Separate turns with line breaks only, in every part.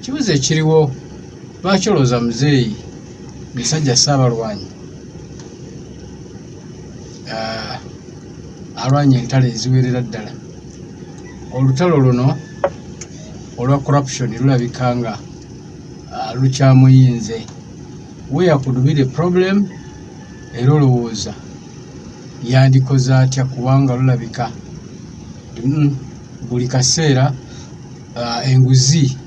Kibuzo ekiriwo lwaki olowooza muzeeyi musajja ssaabalwanyi ah, alwanye entalo eziwerera ddala olutalo luno olwa corruption lulabika nga ah, lukyamuyinze where could be the problem era olowooza yandikoze atya kubanga lulabika mm, buli kaseera uh, enguzi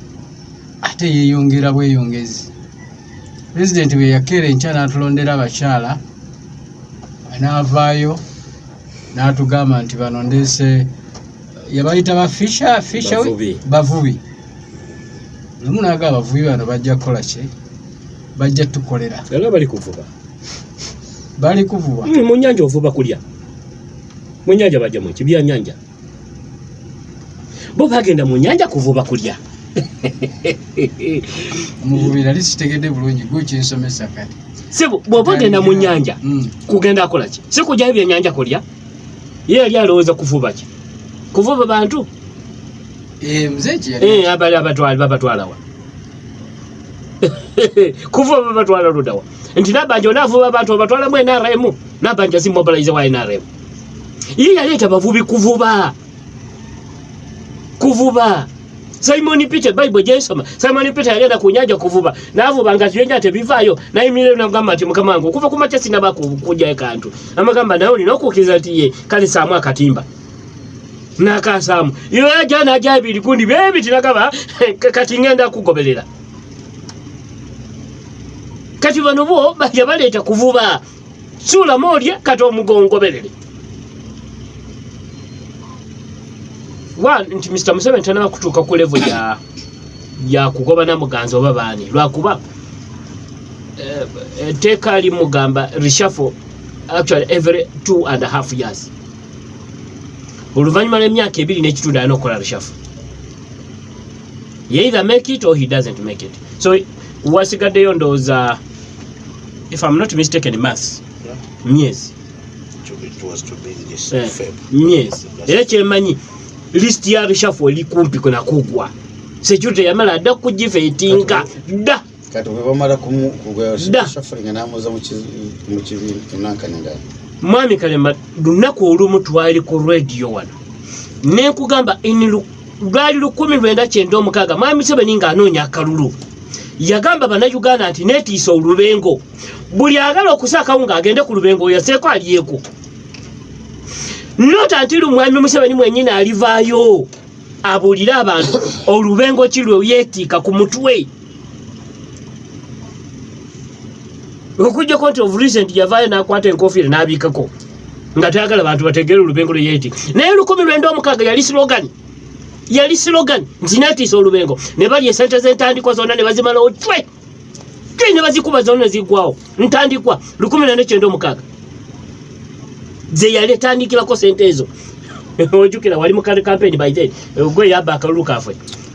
ate yeyongera bweyongezi pulezidenti bwe yakeera enkya n'atulondera abakyala n'avaayo n'atugamba nti bano ndeese yabayita ba fisha fisha bavubi lumu naaga abavubi bano bajja kukola ki bajja tukolera era bali
kuvuba
bali kuvuba hmm, mu nyanja ovuba kulya
mu nyanja bajja mu kibya nyanja bo bagenda mu nyanja kuvuba kulya
muvubi nali sitegedde bulungi gwe kinsomesa kati sebo bwoba ogenda
mu nyanja mm. kugenda akola ki si kugyayo byenyanja kulya ye yali alowooza kuvuba ki kuvuba bantu
eh, eh, abali abatwali babatwalawa
kuvuba babatwala ludawa nti nabanja onavuba abantu obatwalamu nrm nabanja zimobilize wa nrm ye yaleeta bavubi kuvuba kuvuba simoni peter bible gyensoma simoni peter yagenda ku nyanja kuvuba navuba nga ziyenja tebivaayo nayimirire nagamba nti mukama wange okuva ku makya sinaba kukujayo kantu amagamba naye olina okukkiriza nti ye kale saamu akatimba nakasaamu yoyaja naja ebiri kundi bebiti nagaba kati ngenda kugoberera kati bano bo yabaleeta kuvuba suulama olye kati omugongoberere wa nti mr museveni tanaba kutuuka ku levo ya yakugoba namuganzi oba baani lwakuba eh, etteeka limugamba reshafo actually every two and a half years oluvannyuma lw'emyaka ebiri n'ekitundu alina okukola reshafo ye either make it or he doesn't make it so wasigaddeyo ndowooza if I'm not mistaken maths myezi eh, myezi era kyemanyi list ya bishafu oli kumpi kuna kugwa security yamala adda kugifa etinka dda kati webamala
kumushafulinga namuza mukibimunankanengana mwami kalema
lunaku olumu twali ku radio wano nekugamba inilu lwali lukumi lwenda kyenda omukaaga mwami museveni nga anoonya akalulu yagamba banauganda nti netiisa olubengo buli agala okusaakawo nga agende ku lubengo oyaseeko alyeko nota nti lumwami museveni mwenyini alivaayo abuulire abantu olubengo ki lwe yetiika ku mutwe okujjako nti of recent yavaayo n'akwata enkofiira n'abiikako nga tayagala bantu bategeere olubengo lwe yeeti naye lukumi lwenda omukaaga yali slogan yali slogan nti netiisa olubengo ne bali esente z'entandikwa zonna ne bazimalawo twe twe ne bazikuba zonna ne ziggwawo ntandikwa lukumi lwenda kyenda omukaaga ze yali etandikirako sente ezo ojukira wali mu kampeni by then gwe yabba akalulu kaffe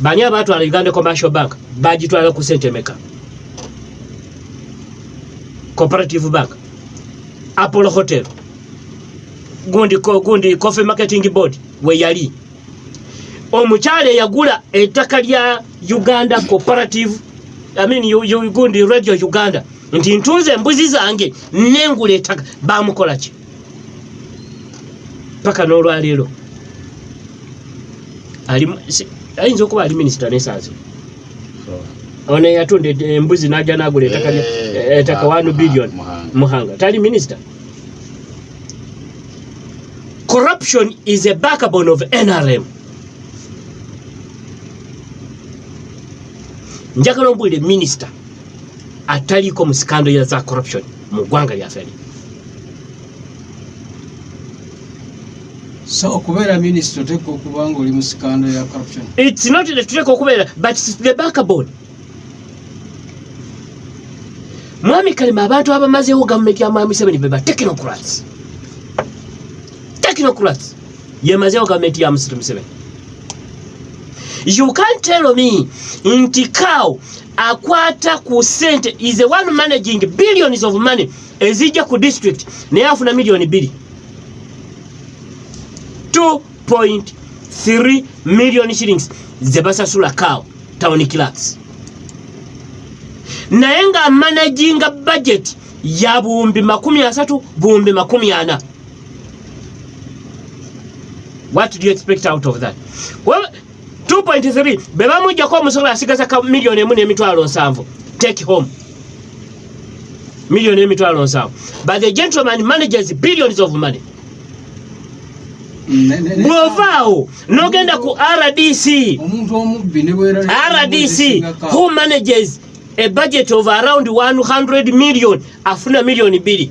bani abaatwala uganda commercial bank bagitwala ku sente meka cooperative bank apollo hotel gundi, gundi coffee marketing board weyali omukyala eyagula ettaka lya uganda cooperative I mean, you, you, gundi radio uganda nti ntunze embuzi zange nengula ettaka bamukolaki paka n'olwaleero ayinza okuba ali minisita nesansi ono eyatunda embuzi naja nagula etaka eh, eh, wanu ah, billion muhanga tali minisita corruption is a backbone of nrm njagala ombulire minisita ataliiko mu sikando ya za corruption mu ggwanga lyaffe li
so okubeera minisita oteeka okuba nga oli mu sikando ya
corruption
its
not that tuteeka okubeera but
its
the backbone mwami kalima abantu abamazeewo gavumenti ya mwami museveni beba technocrats technocrats yemazewo gavumenti ya musitu museveni you can tell me nti cow akwata ku sente is a one managing billions of money ezijja ku district naye afuna milioni biri 2.3 million shillings zebasasula cow town clerks naye nga managinga budget ya buwumbi makumi asatu buwumbi makumi ana What do you expect out of that? Well, 2.3 bebamujjako omusolo asigaza ka million emu n'emitwalo nsanvu take home million emitwalo nsanvu but the gentleman manages billions of money bwovaawo nogenda ku rdc rdc who manages a budget of around 100 million afuna million bili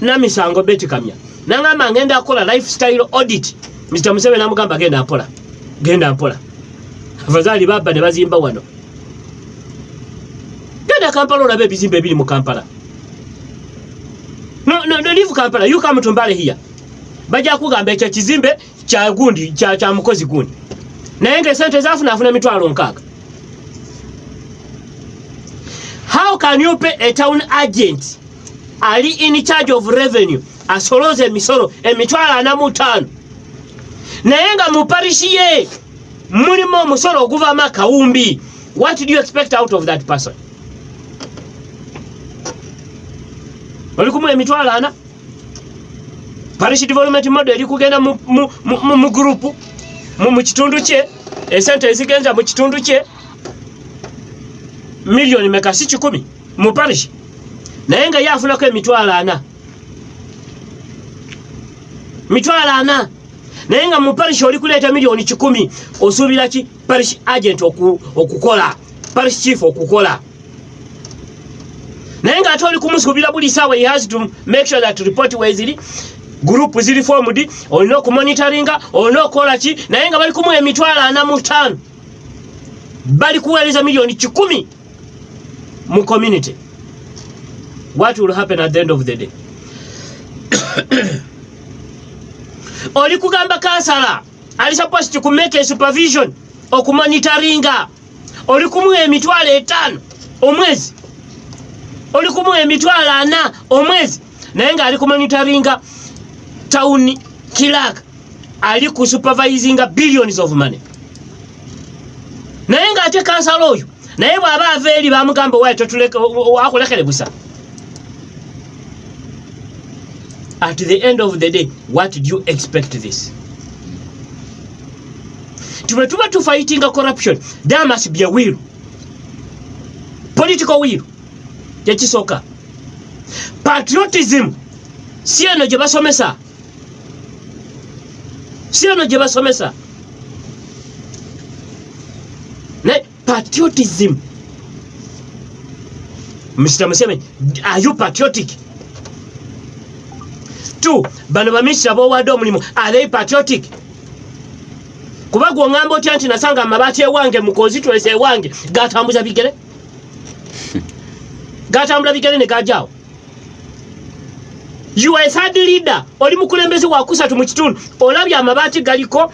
namisango beti kamya nangamba ngenda akola lifestyle audit mr museveni namugamba genda mpola genda mpola abazaali babba ne bazimba wano genda kampala olaba ebizimba ebiri mu kampala no, no, no, leave kampala you come to mbale here bajja kugamba ekyo kizimbe kya gundi kya kya mukozi gundi naye nga esente zafuna afuna emitwalo nkaaga how can you pay a town agent ali in charge of revenue asolooza emisolo emitwalo ana mu ttaano naye nga mu parishi ye mulimu omusolo oguvamu akawumbi what do you expect out of that person oli kumuwa emitwalo ana parish development model eri kugenda mu, mu, mu, mu, mu group mu, mu kitundu kye esente ezigenza mu kitundu kye milioni meka si kikumi mu parish naye nga ye afunako emitwalo ana mitwalo ana naye nga mu parish oli kuleeta milioni kikumi osuubira ki parish agent okukola oku parish chief okukola naye nga ate oli kumusuubira buli saawa he has to make sure that report weziri gurupu ziri fomudi olina okumonitaringa olina okukola ki naye nga bali kumuwa emitwalo ana mu ttaano bali kuweereza miliyoni kikumi mu community what will happen at the end of the day oli kugamba kansala ali supposed to make a supervision okumonitaringa oli kumuwa emitwalo etaano omwezi oli kumuwa emitwalo ana omwezi naye ngaali kumanitaringa town kilak ali ku supervisinga billions of money naye nga ate kansala oyo naye bwaba ava eri bamugamba owaye akulekere busa at the end of the day what do you expect this tube tuba tufayitinga corruption there must be a will political will kyekisooka patriotism si eno gye basomesa si eno gye basomesa Patriotism. Mr. Museveni, are you patriotic? Two, bano baminisita b'owadde omulimu, are they patriotic? Kuba gwe ongamba otya nti nasanga amabaati ewange mu constituency ewange gatambuza bigere? Gatambula bigere ne gajaawo. you are a third leader oli mukulembeze wakusatu mu kitundu olabye amabaati galiko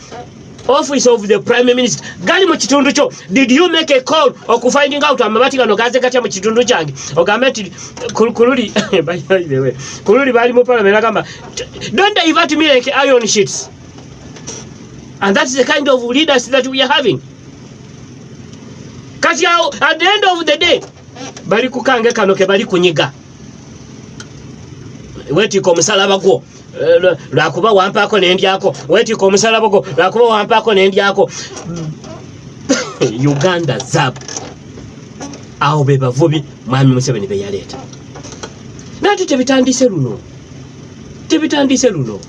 office of the prime minister gali mu kitundu kyo did you make a call okufinding out amabaati gano gaze gatya mu kitundu kyange ogambe nti kululi kululi bali mu parliament agamba don't divert me like iron sheets and that's the kind of leaders that we are having kati awo at the end of the day bali kukange kano ke bali kunyiga wetika omusalaba gwo eh, lwakuba wampaako nendyako wetika omusalaba gwo lwakuba wampaako nendyako uganda zab awo be bavubi mwami museveni beyaleeta nate tebitandise luno tebitandise luno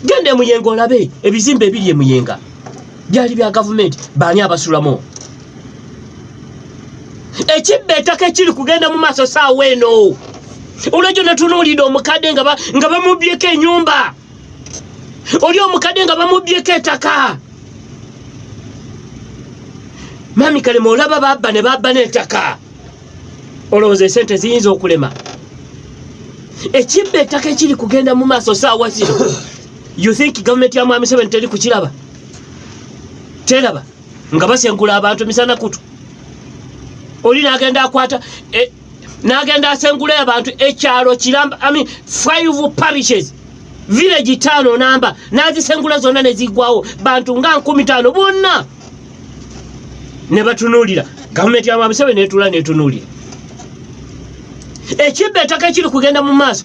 genda emuyenga olabe ebizimba ebiri emuyenga byali bya gavumenti baani abasulamu ekibba etaka ekiri kugenda mu maaso saawa eno olwekyo natunuulidde omukadde nga bamubyeko enyumba oli omukadde nga bamubyeko etaka mami kalema olaba babba ne babba n'etaka olowooza esente ziyinza okulema ekibba ettaka ekiri kugenda mu maaso saawa zino you think gavumenti ya mwami seven teri kukiraba teraba nga basengula abantu misana kutu oli nagenda akwata e, nagenda asengula abantu ekyalo kiramba I mean, five parishes village tano namba nazisengula zonna nezigwawo bantu nga nkumi tano bonna nebatunulira gavumenti yamabusebe netula netunulira ekibba etaka ekiri kugenda mu maaso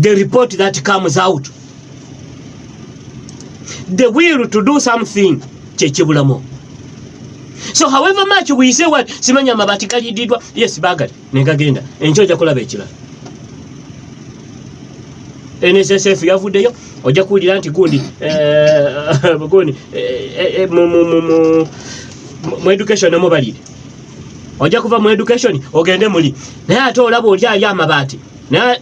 the report that comes out the will to do something kyekibulamu so however much we say what simanya amabati galididwa yes bagali negagenda enkyo ojja kulaba ekirala nssf yavuddeyo ojja kuwulira nti gundi eh, gundi eh, eh, mu education nomubalire ojja kuva mu education ogende muli naye ate olaba oli ali amabaati naye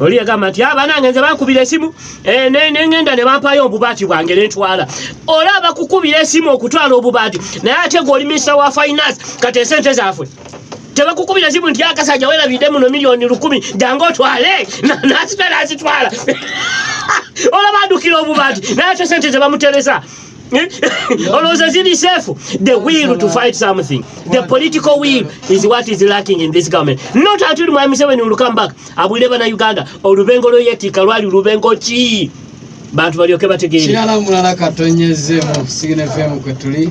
oli yagamba nti abanange nze bakubira esimu eh, nengenda ne bampayo obubaati bwange nentwala olaba kukubira esimu okutwala obubaati naye ate gwe oli minisita wa finance kati esente zafwe tebakukubira simu nti akasajja werabidde muno miliyoni lukumi jange otwale nasita nazitwala olaba adukira obubaati naye ate sente zebamuteresa olowooza ziri safe the will to fight something the political will is what is lacking in this government not until mwami museveni will come back abulire bana uganda olubengo lweyetika lwali lubengo ki
bantu
balyoke
bategeere kirala
mulala
katonyezemu sigine fm
kwetuli